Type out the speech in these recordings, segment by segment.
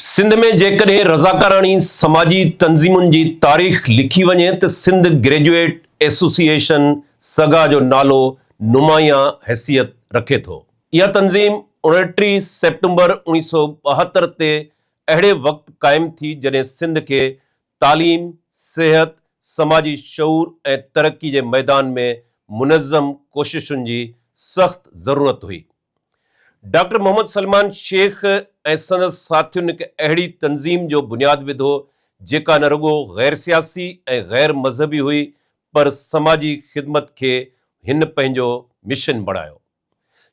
سنڌ ۾ جيڪڏهن رضاڪاراڻي سماجي تنظيمن جي تاريخ لکي وڃي ته سنڌ گريجوئيٽ ايسوسيئيشن سگا جو نالو نمايان حيثيت رکي ٿو. اها تنظيم اڻٽيهه سيپٽمبر اوڻيهه سؤ ٻاهتر تي اهڙي وقت قائم ٿي جڏهن سنڌ کي تعليم، صحت، سماجي شعور ۽ ترقي جي ميدان ۾ منظم ڪوششن جي سخت ضرورت هئي. ڊاڪٽر محمد سلمان شيخ ۽ سندس ساٿين هڪ اهڙي تنظيم جو بنياد وڌو جيڪا نه رڳو غير سياسي ۽ غير مذهبي هئي پر سماجي خدمت کي هن پنهنجو مشن بڻايو.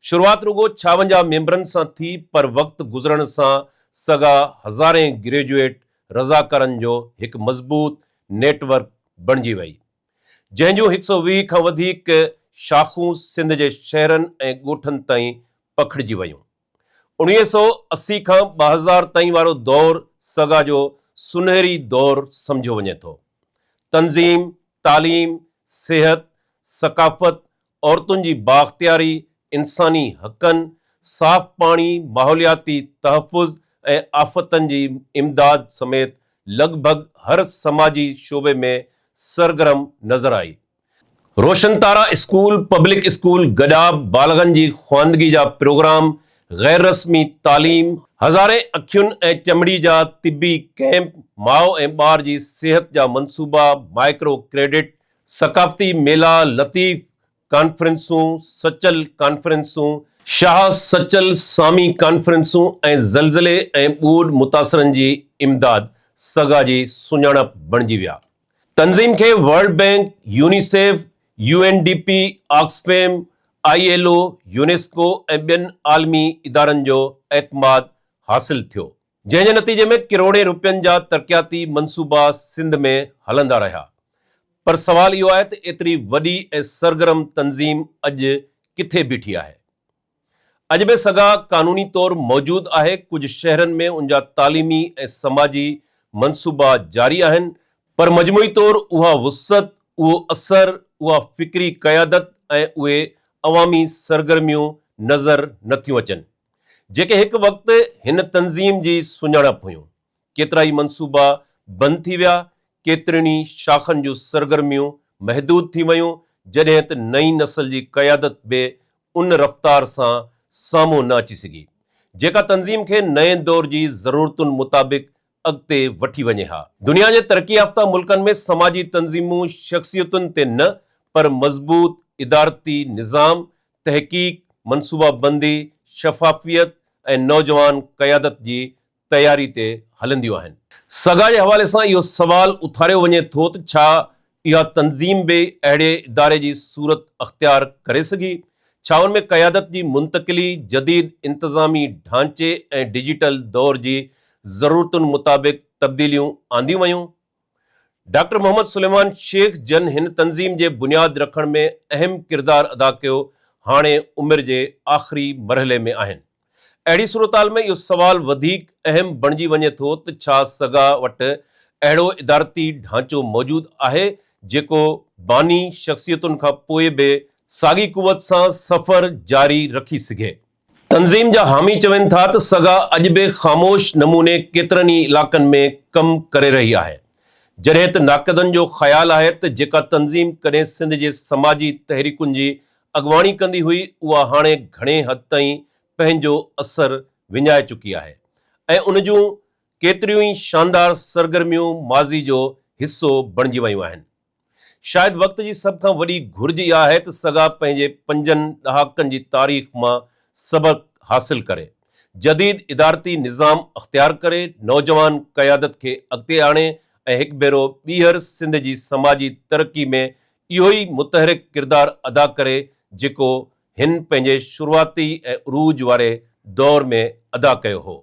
شروعات رڳو ڇاونجاهه ميمبرن سان ٿي پر وقت گذرڻ سان سگا هزارين گريجوئيٽ رضاڪارن جو هڪ مضبوط نيٽ ورڪ بڻجي وئي. جنهن جون هڪ سؤ ويهه کان وڌيڪ شاخون سنڌ جي شهرن ۽ ڳوٺن تائين پکڙجي ويون. اڻويهه سؤ اسي کان ٻه هزار تائين وارو دور سگا جو سنهري دور سمجهيو وڃي ٿو. تنظيم، تعليم، صحت، ثقافت، عورتن جي بااختياري، انساني حقن، صاف پاڻي، ماحولياتي تحفظ ۽ آفتن جي امداد سميت لڳ ڀڳ هر سماجي شعبي ۾ سرگرم نظر آئي. Roshan Tara school, public school گڏاب، بالغن جي خواندگي جا پروگرام، غير رسمي تعليم، هزارين اکين ۽ چمڙي جا طبي ڪئمپ، ماء ۽ ٻار جي صحت جا منصوبا، مائڪرو ڪريڊٽ، ثقافتي ميلا، لطيف ڪانفرنسون، سچل ڪانفرنسون، شاهه سچل سامي ڪانفرنسون ۽ زلزلي ۽ ٻوڏ متاثرن جي امداد سگا جي سڃاڻپ بڻجي ويا تنظيم کي world bank, UNICEF, U N D P, Oxfam, I L O, UNESCO ۽ ٻين عالمي ادارن جو اعتماد حاصل ٿيو. جنهن جي نتيجي ۾ ڪروڙين روپين جا ترقياتي منصوبا سنڌ ۾ هلندا رهيا پر سوال اهو آهي ته ايتري وڏي ۽ سرگرم تنظيم اڄ ڪٿي بيٺي آهي؟ اڄ به سگا قانوني طور موجود آهي، ڪجهه شهرن ۾ ان جا تعليمي ۽ سماجي منصوبا جاري آهن، پر مجموعي طور اها وسعت، اهو اثر، اها فڪري قيادت ۽ اهي عوامي سرگرميون نظر نٿيون اچن. جيڪي هڪ وقت هن تنظيم جي سڃاڻپ هيون، ڪيترائي منصوبا بند ٿي ويا، ڪيترين ئي شاخن جون سرگرميون محدود ٿي ويون، جڏهن ته نئين نسل جي قيادت به ان رفتار سان سامهون نه اچي سگهي، جيڪا تنظيم کي نئين دور جي ضرورتن مطابق اڳتي وٺي وڃي ها. دنيا جي ترقي يافته ملڪن ۾ سماجي تنظيمون شخصيتن تي نه پر مضبوط ادارتي نظام تحقيق، منصوبه بندي، شفافيت ۽ نوجوان قيادت جي تياري تي هلنديون آهن. سگا جي حوالي سان اهو سوال اٿاريو وڃي ٿو ته ڇا اها تنظيم به اهڙي اداري جي صورت اختيار ڪري سگهي؟ ڇا ان ۾ قيادت جي منتقلي، جديد انتظامي ڍانچي ۽ ڊجيٽل دور جي ضرورتن مطابق تبديليون آنديون ويون؟ ڊاڪٽر محمد سليمان شيخ جن هن تنظيم جي بنياد رکڻ ۾ اهم ڪردار ادا ڪيو هاڻي عمر جي آخري مرحلي ۾ آهن اهڙي صورتحال ۾ اهو سوال وڌيڪ اهم بڻجي وڃي ٿو ته ڇا سگا وٽ اهڙو ادارتي ڍانچو موجود آهي جيڪو باني شخصيتن کان پوء به ساڳي قوت سان سفر جاري رکي سگهي. تنظيم جا حامي چون ٿا ته سگا اڄ به خاموش نموني ڪيترن ئي علائقن ۾ ڪم ڪري رهي آهي، جڏهن ته ناقدن جو خيال آهي ته جيڪا تنظيم ڪڏهن سنڌ جي سماجي تحريڪن جي اڳواڻي ڪندي هئي اها هاڻي گهڻي حد تائين پنهنجو اثر وڃائي چڪي آهي ۽ ان جون ڪيتريون ئي شاندار سرگرميون ماضي جو حصو بڻجي ويون آهن. شايد وقت جي سڀ کان وڏي گهرج اها آهي ته سگا پنهنجي پنجن ڏهاڪن جي تاريخ مان سبق حاصل ڪري، جديد ادارتي نظام اختيار ڪري، نوجوان قيادت کي اڳتي آڻي ۽ هڪ ڀيرو ٻيهر سنڌ جي سماجي ترقي ۾ اهو ئي متحرڪ ڪردار ادا ڪري جيڪو هن پنهنجي شروعاتي ۽ عروج واري دور ۾ ادا ڪيو هو.